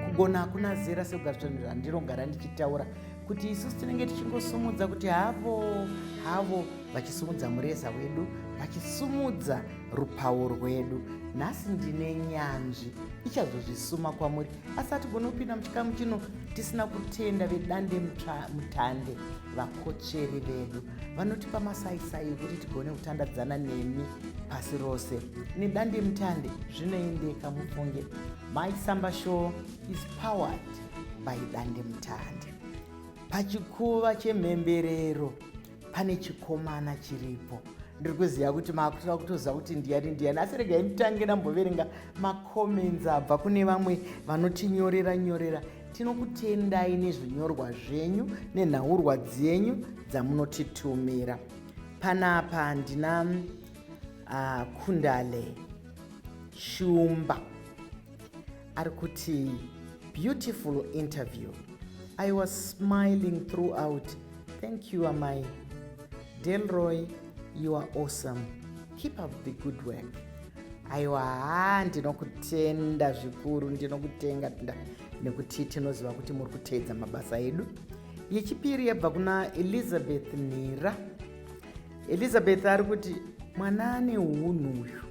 kugona hakuna zera sekugatsvanira ndinogara ndichitaura kuti isusu tinenge tichingosumudza kuti havo havo vachisumudza mureza wedu vachisumudza rupawo rwedu nhasi ndine nyanzvi ichazozvisuma kwamuri asi hatigone kupinda muchikamu chino tisina kutenda vedande mutande vakotsveri vedu vanotipa masaisai ekuti tigone kutandadzana nemi pasi rose nedande mutande zvinoendeka mufunge my samba show is powered by dande mutande pachikuva chemhemberero pane chikomana chiripo ndiri kuziva kuti maakutova kutoziva kuti ndiyani ndiyani asi regai nditange ndamboverenga macomments abva kune vamwe vanotinyorera nyorera tinokutendai nezvinyorwa zvenyu nenhaurwa dzenyu dzamunotitumira panapa ndina uh, kundale shumba ari kuti beautiful interview i was smiling throughout thank you amai delroy you are awesome keep up the good work aiwa haa ndinokutenda zvikuru ndinokutenga tnda nekuti tinoziva kuti muri kuteedza mabasa edu yechipiri yabva kuna elizabeth nhira elizabeth ari kuti mwana ane unhu uyu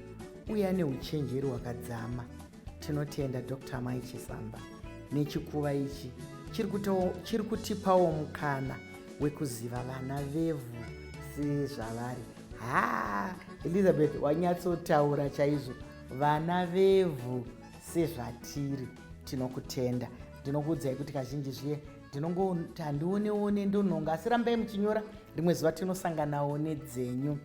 uye ane uchenjeri hwakadzama tinotenda dr mai chisamba nechikuva ichi chiri kutipawo mukana wekuziva vana vevhu sezvavari haa elizabeth wanyatsotaura chaizvo vana vevhu sezvatiri tinokutenda ndinokuudzai kuti kazhinji zviye ndinongoti handioneone ndonhonga asi rambai muchinyora rimwe zuva tinosanganawo nedzenyu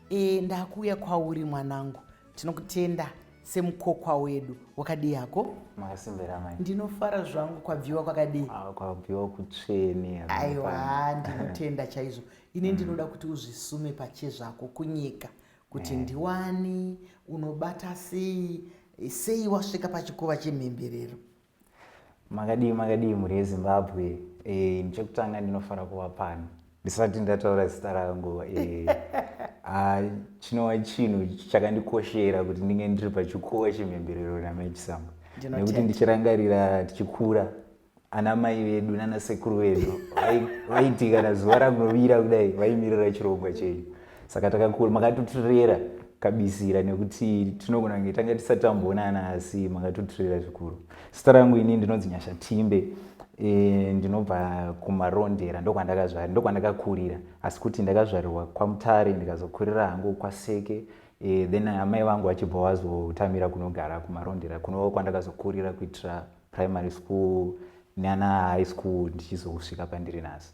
E, ndakuuya kwauri mwanangu, tinokutenda semukokwa wedu. Wakadii hako? Makasimbira mai. Ndinofara zvangu kwabviwa kwakadii? Ah, kwabviwa kutsvene. Aiwa, ndinotenda chaizvo. Ini mm. ndinoda kuti uzvisume pache zvako kunyika kuti eh. ndiwani unobata sei sei wasvika pachikuva chemhemberero Makadii makadii mhuri yeZimbabwe eh, chekutanga ndinofara kuva pano ndisati ndataura zita rangu eh, ah, chinova chinhu chakandikoshera kuti ndinge ndiri pachikuwa chemhemberero naMaichisamba nekuti ndichirangarira tichikura ana mai vedu nana sekuru vedu vaiti kana zuva rangu rovira kudai vaimirira chirongwa chenyu saka takakura makatotirera kabisira nekuti tinogona kunge tanga tisati tamboonana asi makatotirera zvikuru sita rangu ini ndinonzi nyasha timbe e, ndinobva kumarondera ndokwandakazvarira ndokwandakakurira asi kuti ndakazvarirwa kwamutare ndikazokurira hangu kwaseke e, then amai vangu vachibva vazotamira kunogara kumarondera kunova kwandakazokurira kuitira primary school neana high school ndichizosvika pandiri nhasi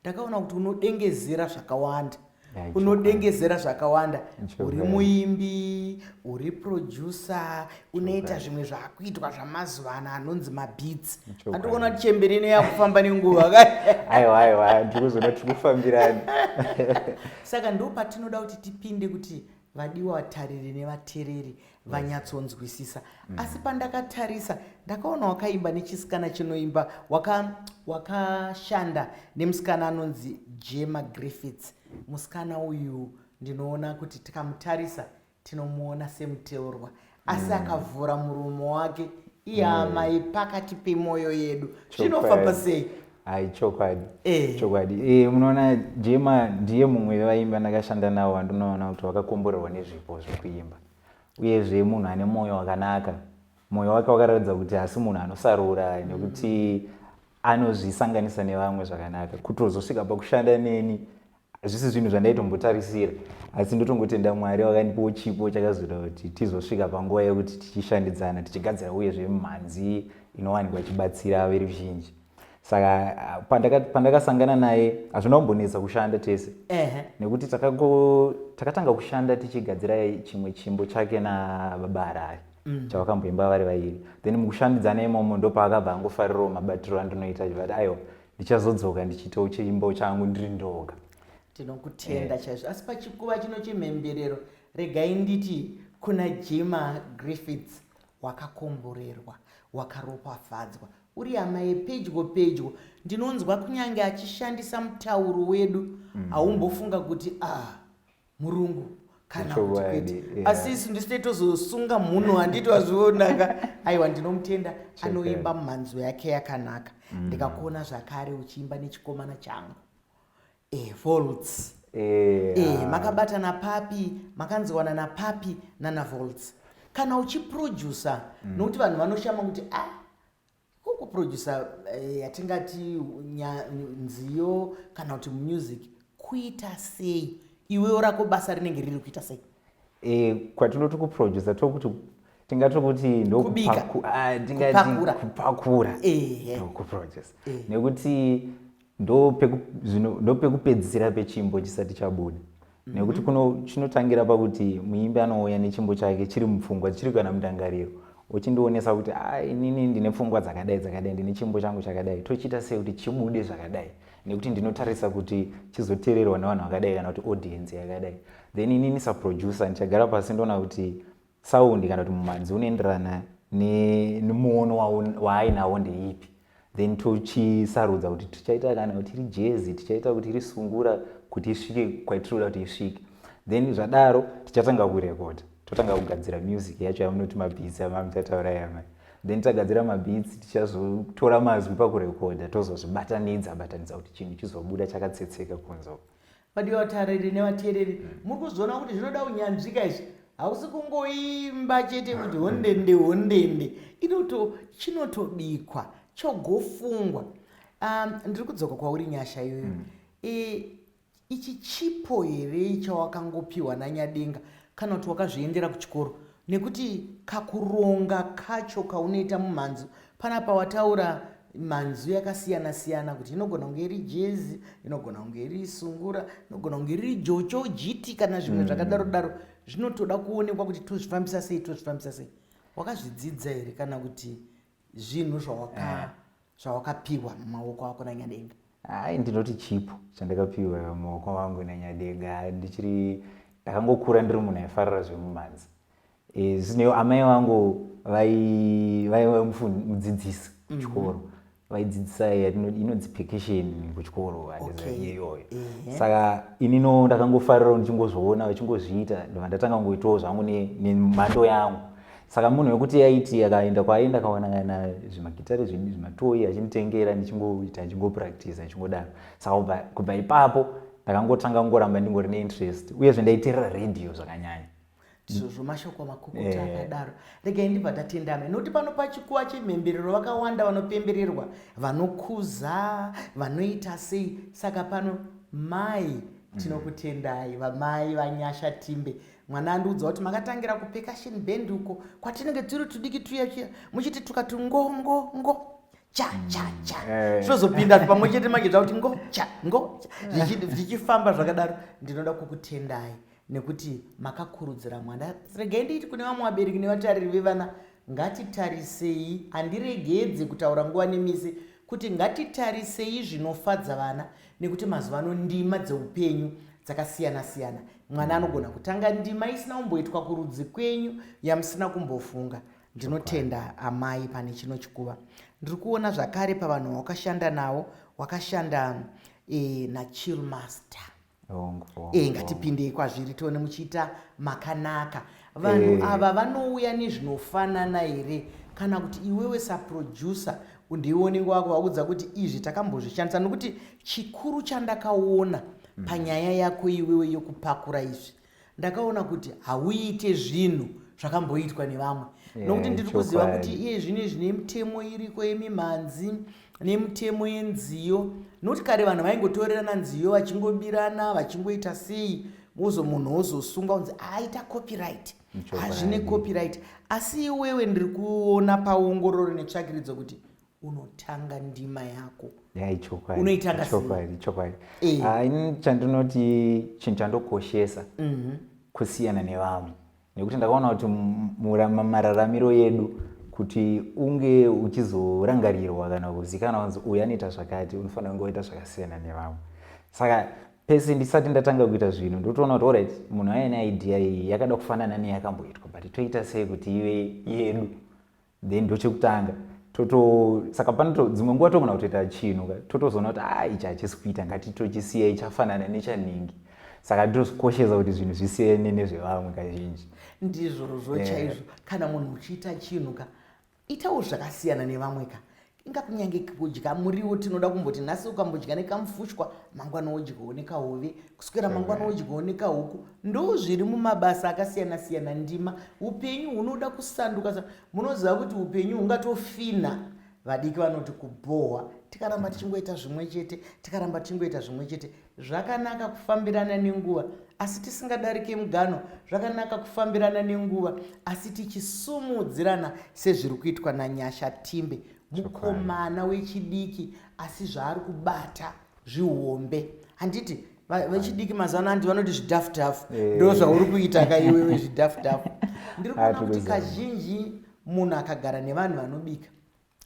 ndakaona kuti unodengezera zvakawanda unodengezera zvakawanda uri muimbi uri producer unoita zvimwe zvakuitwa zvamazuva ano anonzi mabeats andikuona kuti chembere ino yakufamba nenguva kaaiwaaiwa ndikuzona tiri kufambirani saka ndo patinoda kuti tipinde kuti vadiwa vatariri nevatereri vanyatsonzwisisa mm. asi pandakatarisa ndakaona wakaimba nechisikana chinoimba wakashanda waka nemusikana anonzi jema griffits musikana uyu ndinoona kuti tikamutarisa tinomuona semuteurwa asi mm. akavhura murumo wake iamai mm. pakati pemwoyo yedu zvinofamba sei hai chokwadi eh. chokwadi eh, munoona jema ndiye mumwe vevaimbi andakashanda navo vandinoona kuti vakakomborerwa nezvipo zvekuimba uyezve munhu ane mwoyo wakanaka mwoyo wake wakaratidza kuti hasi munhu anosarura nekuti anozvisanganisa nevamwe zvakanaka kutozosvika pakushanda neni hazvisi zvinhu zvandaitombotarisira asi ndotongotenda mwari wakandipawo chipo chakazoita kuti tizosvika panguva yekuti tichishandidzana tichigadzira uye zvemhanzi inowanikwa ichibatsira veruzhinji saka pandakasangana naye hazvina kumbonetsa kushanda tese nekuti takatanga kushanda tichigadzira chimwe chimbo chake nababa harari mm. chavakamboimba vari vairi then mukushandidzana imomo ndopaakabva angofarirawo mabatiro andinoita chivati aiwa ndichazodzoka ndichiitawo cheimbo changu ndiri ndoga tinokutenda eh. chaizvo asi pachikuva chino chemhemberero regai nditi kuna jima griffiths wakakomborerwa wakaropafadzwa uri hama yepedyo pedyo ndinonzwa kunyange achishandisa mutauro wedu mm. haumbofunga mm. kuti ah murungu kana kuti kwete yeah. asi isu ndisite tozosunga munhu handiti wazvionaka aiwa ndinomutenda anoimba mhanzo yake yakanaka mm. ndikakuona zvakare uchiimba nechikomana changu eh, volts yeah. eh, makabatana papi makanziwana napapi nana volts kana uchiproducer mm. nokuti vanhu vanoshama kuti ah, Ko kuproducer eh, yatingati nya- nziyo kana kuti music kuita sei iwewo rako basa rinenge riri kuita sei Eh, kwatinoti kuproducer tokuti tingati kuti ndo Kubika. kupaku- ah, tingati Kupakura. kupakura Ehe. ndo kuproducer nekuti ndopekupedzisira pechimbo chisati chabuda mhm. nekuti kuno chinotangira pakuti muimbi anouya nechimbo chake chiri mupfungwa chiri kana mundangariro uchindionesa kuti ah, inini ndine pfungwa dzakadai dzakadai ndine chimbo changu chakadai tochiita sei kuti chibude zvakadai nekuti ndinotarisa kuti chizoteererwa nevanhu vakadai kana kuti audience yakadai then inini saproducer ndichagara pasi ndoona kuti Saundi kana kuti mumanzi unoenderana nemuono waainawo ndeipi then tocisarudza kuti tichaita kana kuti iri jezi tichaita kuti iri sungura kuti isvike kwaitinoda kuti isvike then zvadaro tichatanga kurekoda totanga kugadzira music yacho yamunoti mabhitsi amamuchataura yama then tagadzira mabhitsi tichazotora mazwi pakurekoda tozozvibatanidza batanidza kuti chinhu chizobuda chakatsetseka kunzoko vadiwa vatariri nevateereri mm. muri kuzoona kuti zvinoda unyanzvika izvi hausi kungoimba chete kuti hondende hondende inoto chinotobikwa chogofungwa um, ndiri kudzoka kwauri nyasha iyoyo mm. e, ichi chipo here chawakangopiwa nanyadenga kana kuti wakazviendera kuchikoro Nekuti kakuronga kacho kaunoita mumhanzu panapa wataura mhanzu yakasiyana siyana kuti inogona kunge iri jezi inogona kunge iri sungura inogona kunge riri jocho jiti kana zvimwe mm. zvakadaro daro zvinotoda kuonekwa kuti tozvifambisa sei tozvifambisa sei wakazvidzidza here kana kuti zvinhu zvawaka eh. zvawakapiwa mumaoko ako nanyadenga hai ndinoti chipo chandakapiwa mumaoko wangu nanyadenga ndichiri ndakangokura ndiri munhu aifarira zvemumhanzi eh, zvinewo amai vangu vaiva mudzidzisi mhm. kuchikoro vaidzidzisa inonzi pekesheni kuchikoro iyoyo saka inino ndakangofarirawo ndichingozviona vachingozviita ndova ndatanga kungoitawo zvangu nemhando yangu saka munhu wekuti yaiti akaenda kwaaenda akawana kana zvimagitare zvini zvimatoi achinditengera ndichingoita achingopractice achingodaro saka kubva ipapo ndakangotanga kungoramba ndingori neinterest uyezve ndaiterera radio zvakanyanya ndizvozvo mashoko makukuti eh. akadaro regai ndibva tatendame nokuti pano pachikuva chemhemberero vakawanda vanopembererwa vanokuza vanoita sei saka pano mai tinokutendai vamai vanyasha timbe mwana andiudza kuti makatangira kupeka shin band uko kwatinenge tiri tudiki tuya tuya muchiti tuka tungongo ngo cha cha cha mm, eh. zvozopinda pamwe chete manje zvakuti ngo cha ngo zvichifamba zvakadaro ndinoda kukutendai nekuti makakurudzira mwana regai ndiiti kune vamwe vabereki nevatariri vevana ngatitarisei handiregedze kutaura nguva nemisi kuti ngatitarisei zvinofadza vana nekuti mazuva ano ndima dzeupenyu dzakasiyana siyana mwana anogona kutanga ndima isina kumboitwa kurudzi kwenyu yamusina kumbofunga ndinotenda amai pane chino chikuva ndiri kuona zvakare pavanhu vawakashanda navo wakashanda e, nachilmaster e, ngatipindei kwazviri tione muchiita makanaka vanhu Eh. ava vanouya nezvinofanana here kana kuti iwewe saproducer ndiwe unenge wakuvaudza kuti izvi takambozvishandisa nokuti chikuru chandakaona panyaya yako iwewe yokupakura izvi ndakaona kuti hauite zvinhu zvakamboitwa nevamwe Yeah, nokuti ndiri kuziva chokwadi. kuti iye zvino izvi nemitemo iriko yemimhanzi nemitemo yenziyo nokuti kare vanhu vaingotorerana nziyo vachingobirana vachingoita sei wozo munhu wozosunga unzi aita copyright hazvine copyright asi iwewe ndiri kuona paongororo netsvakiridzo kuti unotanga ndima yako yaichokwaidiokwadi eh. ah, ini chandinoti chinhu chandokoshesa mhm. kusiyana nevamwe nekuti ndakaona kuti mararamiro yedu kuti unge uchizorangarirwa kana kuzikanwa kunzi uyu anoita zvakati unofanira kunge waita zvakasiyana nevamwe saka pese ndisati ndatanga kuita zvinhu ndotoona kuti orit munhu aine idea iyi yakada kufanana neyakamboitwa but toita sei kuti ive yedu then ndochekutanga toto saka panoto dzimwe nguva togona kutoita chinhu ka totozoona kuti a ah, ichi hachisi kuita ngatitochisiya chafanana nechanhingi saka ndozvikoshesa kuti zvinhu zvisiyane nezvevamwe kazhinji ndizvozvo eh. chaizvo kana munhu uchiita chinhu ka itawo zvakasiyana nevamwe ka inga kunyange kudya muriwo tinoda kumboti nhasi ukambodya nekamufushwa mangwana wodyawo nekahove kuswera mangwana wodyawo nekahuku ndo zviri mumabasa akasiyana siyana ndima upenyu hunoda kusanduka sa munoziva kuti upenyu hungatofina vadiki vanoti kubhohwa tikaramba tichingoita zvimwe chete tikaramba tichingoita zvimwe chete Zvakanaka kufambirana nenguva, asi tisingadarike mugano. Zvakanaka kufambirana nenguva, asi tichisumudzirana sezviri kuitwa naNyasha Timbe. Mukomana wechidiki asi zvaari kubata zvihombe. Handiti vechidiki mazuva ano handi vanoti zvidhafu dhafu eh. ndo zvauri kuita ka iwewe zvidhafu dhafu. Ndiri kuona kuti kazhinji munhu akagara nevanhu vanobika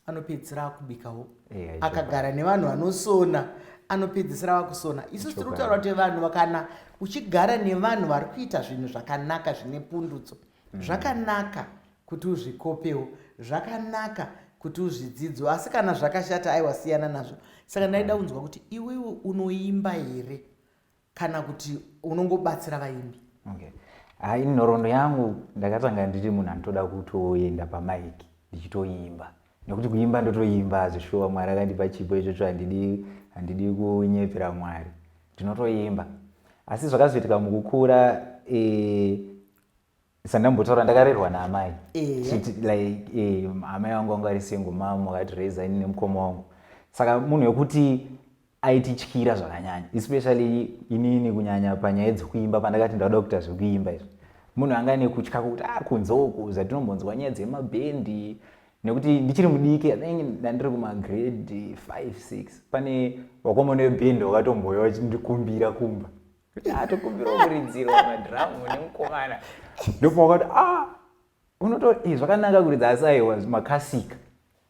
anopedzisira akubikawo eh, akagara nevanhu vanosona anopedzisira vakusona isu tiri kutaura kuti vanhu vakana uchigara nevanhu vari kuita zvinhu zvakanaka zvine pundutso mm. zvakanaka kuti uzvikopewo zvakanaka kuti uzvidzidzo asi kana zvakashata aiwa siyana nazvo saka ndaida kunzwa kuti iwewe unoimba here kana kuti unongobatsira vaimbi okay. hai nhoroondo yangu ndakatanga ndiri munhu anotoda kutoenda pamaiki ndichitoimba nekuti kuimba ndotoimba hazvishuwa mwari akandipa chipo ichocho handidi handidi kunyepera mwari ndinotoimba asi zvakazoitika mukukura e, sandambotaura ndakarerwa naamai eh. like eh, amai vangu vanga vari single mam vakatiraiza ini nemukoma wangu saka munhu wekuti aitityira zvakanyanya especially inini kunyanya panyaya dzekuimba pandakati ndauda kuita zvekuimba izvi munhu anga nekutya kuti a ah, kunze uku zvatinombonzwa nyaya dzemabhendi nekuti ndichiri mudiki athingi ndandiri kumagrade 56 pane wakomana webhendi wakatomboya vachindikumbira kumba Ah, tokumbira kuridzirwa madhiramu nemukomana ndopauka kuti ah unoto eh, zvakanaka kuridza asi aiwa makasika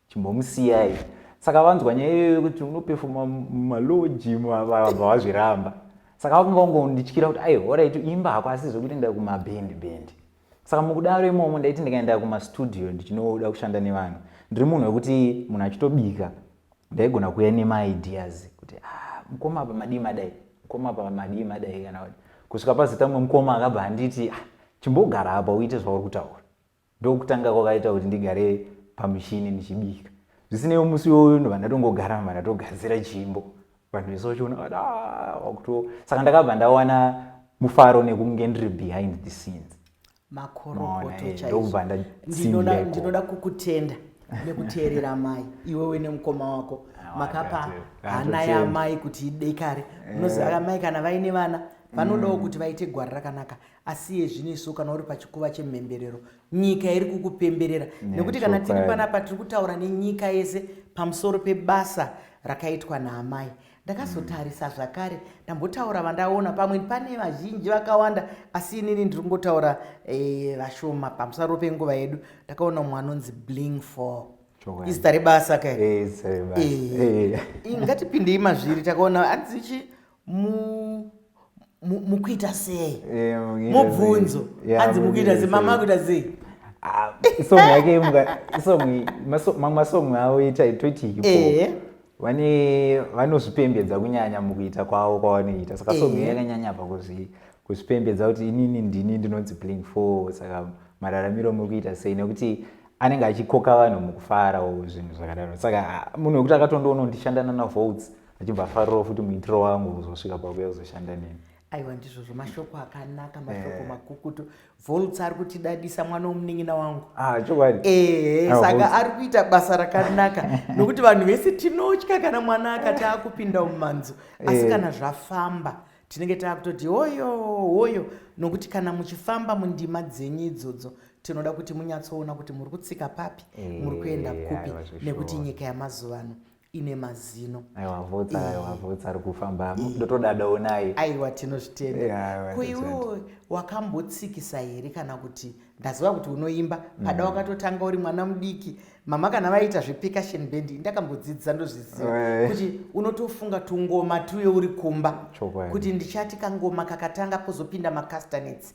chimbomusiyai saka vanzwa nyaya iyoyo yekuti unopefoma maloji vabva vazviramba saka vakanga vangondityira kuti ai horaiti imba hako asi zvekuti nda kumabhendi bhendi saka mukudaro imomo ndaiti ndikaenda kumastudio ndichinoda kushanda nevanhu ndiri munhu wekuti munhu achitobika ndaigona kuuya nemaideas kuti ah, mukoma apa madii madai mukoma apa madii madai kana kuti kusvika pazita mumwe mukoma akabva anditi ah, chimbogara apa uite zvauri kutaura ndokutanga kwakaita kuti ndigare pamushini ndichibika zvisinei musi iwoyo ndovandatongogara vandatogadzira chimbo vanhu vese vachiona vati "Ah, wakuto saka ndakabva ndawana mufaro nekunge ndiri behind the scenes Maona, makorokoto eh, chaizvo. ndokubva ndinoda ndatsindireko. ndinoda kukutenda nekuteerera amai iwewe nemukoma wako Ah, makapa wakati, hana handotenda. yaamai kuti idekare munoziva ka mai kana vaine vana vanodawo kuti vaite gwara rakanaka asi iye zvino isu kana uri pachikuva chemhemberero nyika iri kukupemberera nekuti kana tiri panapa tiri kutaura nenyika yese pamusoro pebasa rakaitwa naamai ndakazotarisa zvakare ndambotaura vandaona pamwe pane vazhinji vakawanda asi inini ndiri kungotaura eh, vashoma e, pamusaro penguva yedu ndakaona mumwe anonzi bling for izita rebasa ka eh, eh, ingatipindei mazviri takaona anzichi mukuita sei eh, mubvunzo anzi mukuita sei mama akuita sei ah, song yake mamwe masong avo itaitoti hipo eh. vane vanozvipembedza kunyanya mukuita kwavo kwavanoita saka song eh. yakanyanya pa kuzvipembedza kuti inini ndini ndinonzi bling four saka mararamiro muri kuita sei nekuti anenge achikoka vanhu mukufara zvinhu zvakadaro saka ah, munhu wekuti akatondoona kuti ndishandana navotes achibva afarirawo futi muitiro wangu kuzosvika pakuya kuzoshanda neni aiwa ndizvozvo mashoko akanaka mashoko eh. makukutu volts ari kutidadisa mwana womunin'ina wangu ah, chokwadi ehe ah, saka ari kuita basa rakanaka nokuti vanhu vese tinotya kana mwana akati akupinda mumanzo asi eh. kana zvafamba tinenge taakutoti hoyo hoyo nokuti kana muchifamba mundima dzenyu idzodzo tinoda kuti munyatsoona kuti muri kutsika papi muri kuenda eh, kupi nekuti nyika yamazuva ano ine mazino aiwa vhotsa eh. aiwa vhotsa ari kufamba eh. ndotodadawo naye aiwa tinozvitenda eh, ko iwewo wakambotsikisa here kana kuti ndaziva kuti unoimba pada mm. wakatotanga uri mwana mudiki mama kana vaita zvepecussion band ndakambodzidzisa ndozviziva kuti unotofunga tungoma tuye uri kumba kuti ndichati kangoma kakatanga pozopinda macastanets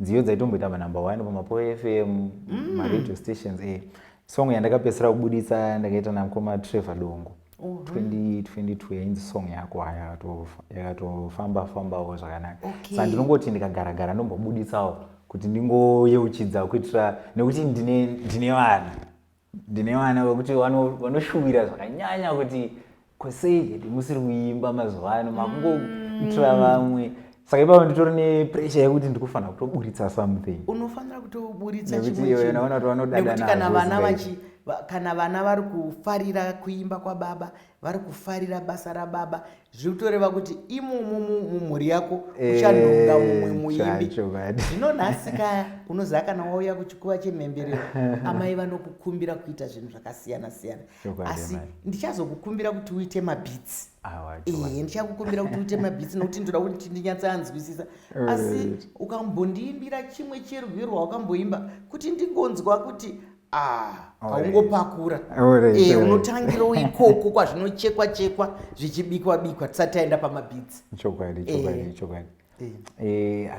nziyo dzaitomboita manumber one pamapoe fm mm. maradio stations e song yandakapedzisira kubuditsa ndakaita namukoma trevor dongo 2022 yainzi song yako haya yakatofamba fambawo zvakanaka okay. sa ndinongoti ndikagara gara ndombobuditsawo kuti ndingoyeuchidza kuitira nekuti ndine vana ndine vana vekuti vanoshuvira zvakanyanya kuti kosei hedi musiri kuimba mazuva ano makungoitira mm. vamwe saka ipapo nditori nepressure yekuti ndikufanira kutoburitsa something unofanira kutoburitsa chimwenaona kuti vanodadana kana vana vachi kana vana vari kufarira kuimba kwababa vari kufarira basa rababa zviri kutoreva kuti imomo mumhuri yako eh, uchanhonga mumwe muimbi zvino nhasi kaya unoziva kana wauya kuchikuva chemhemberero amai vanokukumbira kuita zvinhu zvakasiyana siyana asi ndichazokukumbira kuti uite mabhitsi ee eh, ndichakukumbira kuti uite mabhitsi nokuti ndoda kuti ndinyatsanzwisisa asi ukambondiimbira chimwe cherwiro rwaukamboimba kuti ndingonzwa kuti Ah, haungopakura eh, unotangira ikoko kwazvinochekwa chekwa zvichibikwa bikwa tisati taenda pamabhidzi chokwadi chokwadi eh. chokwadi eh.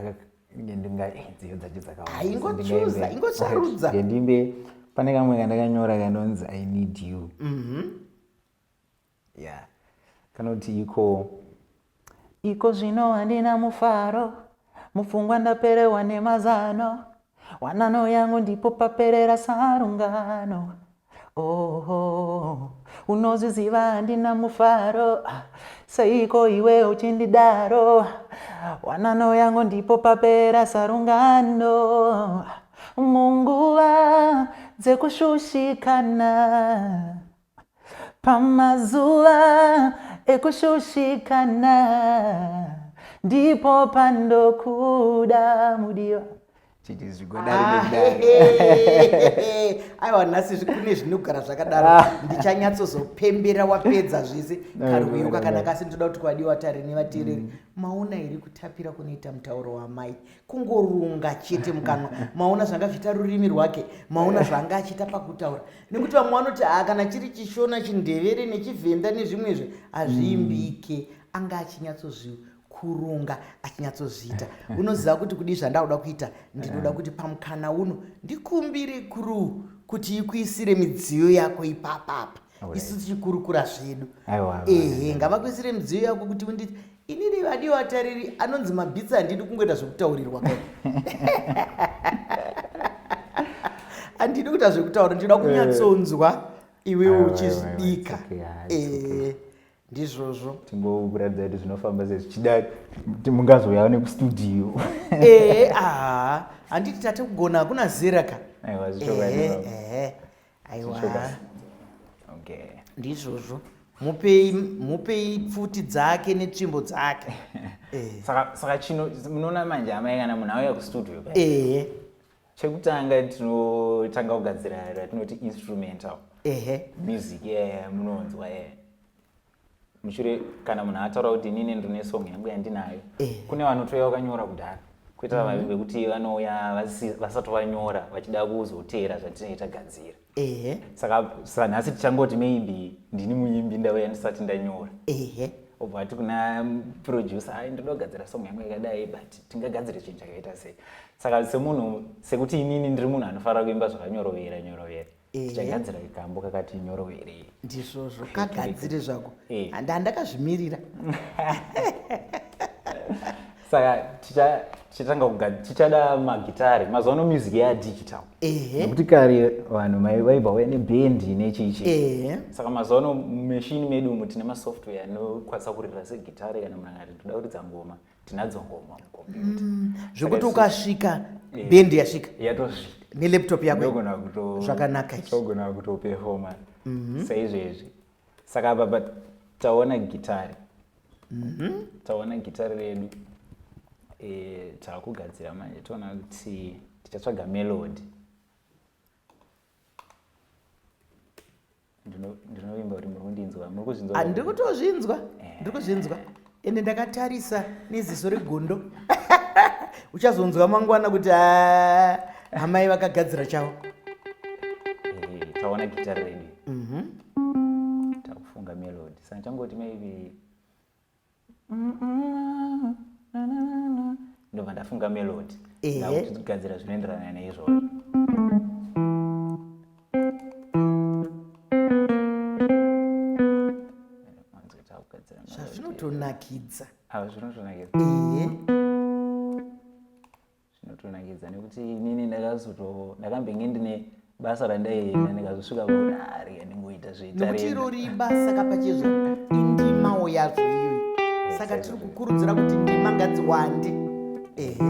ndingadziyo dzacho dzakawaingochuza ingosarudza ndimbe pane kamwe kandakanyora kanonzi i need you mhm. Yeah. Kanoti iko iko zvino handina mufaro mupfungwa ndaperewa nemazano wanano yangu ndipo paperera sarungano oho unozviziva handina mufaro seiko iwe uchindidaro wanano yangu ndipo paperera sarungano munguva dzekushushikana Pamazuva ekushushikana ndipo pandokuda mudiwa chiti zvigodari ah, nekudari aiwa nhasi kune zvinogara zvakadaro ah. ndichanyatsozopembera wapedza zvese karwiyo kakanaka asi ndoda kuti kwadiwa tarini vateereri mm. maona here kutapira kunoita mutauro wamai kungorunga chete mukanwa maona zvanga zviita rurimi rwake maona zvanga achiita pakutaura nekuti vamwe vanoti haa kana chiri chishona chindevere nechivhenda nezvimwezve hazviimbike mm. anga achinyatsozvikurunga achinyatsozviita unoziva kuti kudii zvandakuda kuita ndinoda kuti pamukana uno ndikumbire kuru kuti ikuisire midziyo yako ipapapa isu tichikurukura zvedu ehe ngavakuisire midziyo yako kuti unditi inini vadiwa atariri anonzi mabhitsi handidi kungoita zvekutaurirwa kai handidi kuita zvekutaura ndinoda eh. kunyatsonzwa iwewo uchizvidika eh, ndizvozvo tingokuratidza kuti zvinofamba sei zvichida mungazouyawo nekustudio ehe eh, aha handiti tate kugona hakuna zera ka aiwa zvichokwadi aiwa okay ndizvozvo mupei mupei pfuti dzake netsvimbo dzake eh. saka saka chino munoona manje amai kana munhu auya kustudio ehe chekutanga tinotanga kugadzira ratinoti instrumental ehe music yeah, munonzwa yeah. mushure kana munhu ataura kuti inini ndine song yangu yandinayo eh. kune vanotouya vakanyora kudhara kuita mm-hmm. vavimbe kuti vanouya vasati vanyora vachida kuzoteera zvatinenge tagadzira ehe saka sanhasi tichangoti maybe ndini muimbi ndauya ndisati ndanyora ehe obva ati kuna mm, producer ai ndoda kugadzira song yangu yakadai but tingagadzire chinhu chakaita sei saka semunhu sekuti inini ndiri munhu anofanira kuimba zvakanyorovera nyorovera Eh. tichagadzira kambo kakati nyoro here ndizvozvo kagadzire zvako Eh. Handi- handakazvimirira saka ticha- tichatanga kuga- tichada magitare mazuva ano music yadigital ehe nekuti kare vanhu mai- vaibva vauya nebhendi nechichi ehe saka mazuva ano mumeshini medu umu tine masoftware anokwanisa kuririra segitare kana munhu akati ndoda kuridza ngoma tinadzo ngoma mukombiyuta mm. zvekuti ukasvika eh, bendi yasvika yatosvika nelaptop yako zvakanaka togona kutopefoma mhm. saizvezvi saka apa but taona gitari mhm. taona gitari redu eh, takugadzira manje toona kuti tichatsvaga melody ndinovimba kuti muri kundinzwa muri kuzvinzwa ah, ndiri kutozvinzwa eh. ndiri kuzvinzwa ende ndakatarisa neziso regondo uchazonzwa mangwana kuti ah, amai vakagadzira chavo eh, taona gita redu mhm. takufunga melodi saka changoti maybe ndobva ndafunga melodi ndakugadzira zvinoenderana neizvozvo zvazvinotonakidza zvinotonakidza zvinotonakidza nekuti inini ndakazoto ndakambenge ndine basa randaienda ndikazosvika kuona ari andingoita zveitareekuti irori ibasa kapachezvo indimawo yazvo iyoyi saka tiri kukurudzira kuti ndima ngadziwande ehe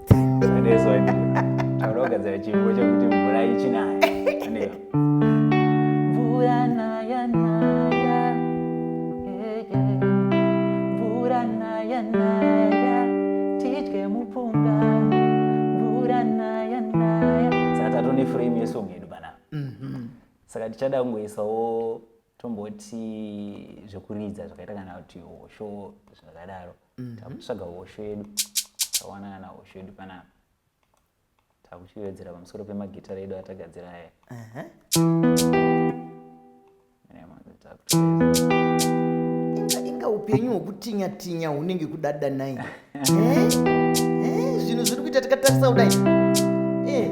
Taurogadzira chimbo chekuti mvura ichinaya. Mvura naya naya. Mvura naya naya. Tidye mupunga. Mvura naya naya. Saka tatone frame yesong yedu pana. Mhm. Saka tichada kungoisawo tomboti zvekuridza zvakaita kana kuti hosho zvakadaro. mm-hmm. takutsvaga hosho yedu tawanana nahosho yedu panapa takuchivedzera pamusoro pemagitara edu atagadzira aya inga upenyu hwekutinya tinya hunenge kudada nai eh? Eh, zvinhu zviri kuita tikatarisa kudai eh.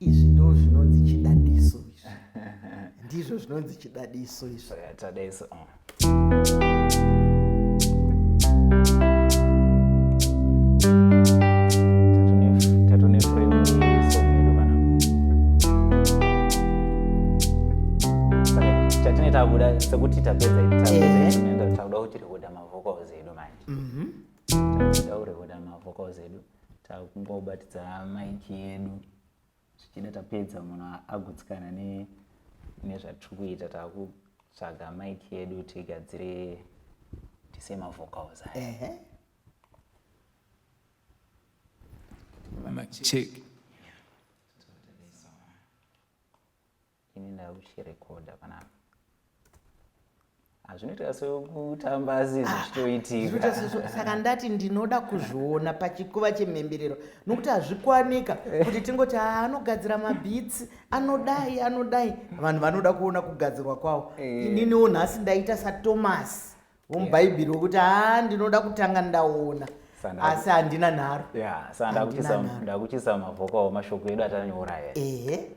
izvi ndo zvinonzi chidadiso izvi ndizvo zvinonzi chidadiso izvi chidadiso takuda sekuti tapedza takuda kuti rekuda mavhokals edu manje mhm. takuda kurekoda mavhokals edu takungobatidza maiki yedu zvichida tapedza munhu agutsikana nezvatiri kuita takutsvaga maiki yedu tigadzire tise mavocals aya check ini ndakuchirekodha panapa hazvinoita sekutamba asi zvichitoitika saka ndati ndinoda kuzviona pachikuva chemhemberero nokuti hazvikwanika kuti tingoti ah, anogadzira mabhitsi anodai anodai vanhu vanoda kuona kugadzirwa kwavo eh. ininiwo nhasi ndaita satomasi womubhaibheri wekuti a ah, ndinoda kutanga ndaona asi handina nharo sandakuchisa mavhoka wamashoko edu atanyoraya ehe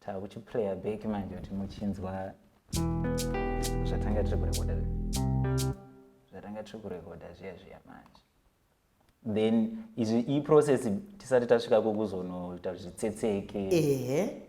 Takuchiplayer back manje kuti muchinzwa zvatanga tiri kurekoda zvatanga tiri kurekoda zviya zviya manje then izvi iyi process tisati tasvika kokuzonoita zvitsetseke ehe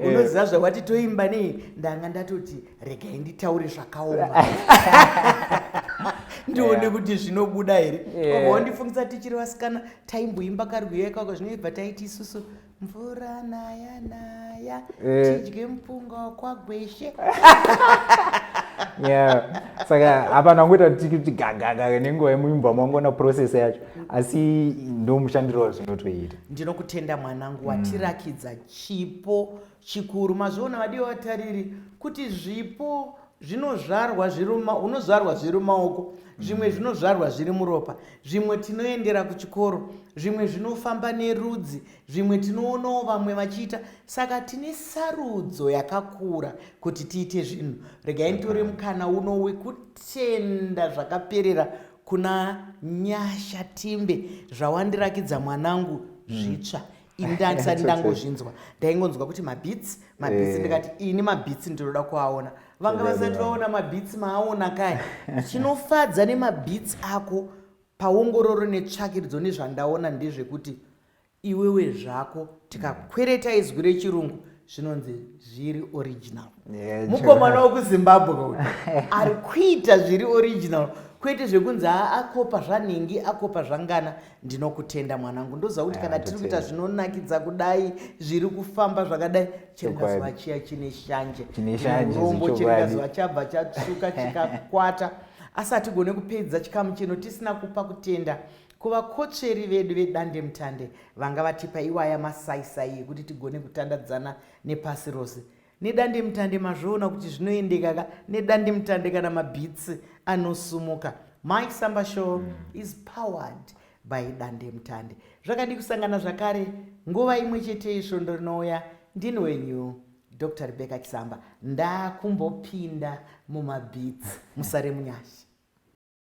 Eh. unoziva zvawati toimba nei ndanga ndatoti regai nditaure zvakaoma ndione eh. kuti zvinobuda here eh. wandifungisa tichiri vasikana taimboimba karwiyo ikako zvinoibva taiti isusu mvura naya naya eh. tidye mupunga wakwagweshe yeah saka hapana kungoita kuti gagaga nenguva yemuimba mangona process yacho asi ndomushandiro wazvinotoita ndinokutenda mwanangu watirakidza chipo chikuru mazviona vadiwa vatariri kuti zvipo zvinozvarwa zviri unozvarwa zviri maoko zvimwe mm. zvinozvarwa zviri muropa zvimwe tinoendera kuchikoro zvimwe zvinofamba nerudzi zvimwe tinoonawo vamwe vachiita saka tine sarudzo yakakura kuti tiite zvinhu regai nditore mukana uno wekutenda zvakaperera kuna nyasha timbe zvawandirakidza mwanangu mm. zvitsva mm. ini ndandisati ndangozvinzwa ndaingonzwa kuti mabits mabits eh. ndikati ini mabits ndinoda kuaona vanga vasati vaona mabits maaona kaya chinofadza nemabits ako paongororo netsvakiridzo nezvandaona ndezvekuti iwewe zvako tikakwereta izwi rechirungu zvinonzi zviri original yeah, mukomana wekuzimbabwe uyu ari kuita zviri original kwete zvekunzi akopa zvanhingi akopa zvangana ndinokutenda mwanangu ndoziva kuti kana tiri kuita zvinonakidza kudai zviri kufamba zvakadai chiringazuva chiya chine shanje rombo chiringazuva chabva chatsuka chikakwata asi hatigone kupedza chikamu chino tisina kupa kutenda Ko vakotsveri vedu vedandemutande vanga vatipa iwaya masaisai ekuti tigone kutandadzana nepasi rose nedandemutande mazviona kuti zvinoendeka ka nedandemutande kana mabhitsi anosumuka my samba show mm. is powered by dandemutande zvakadi kusangana zvakare nguva imwe chete isvondo rinouya ndini wenyu dr rebecca chisamba ndakumbopinda mumabhitsi musare munyasha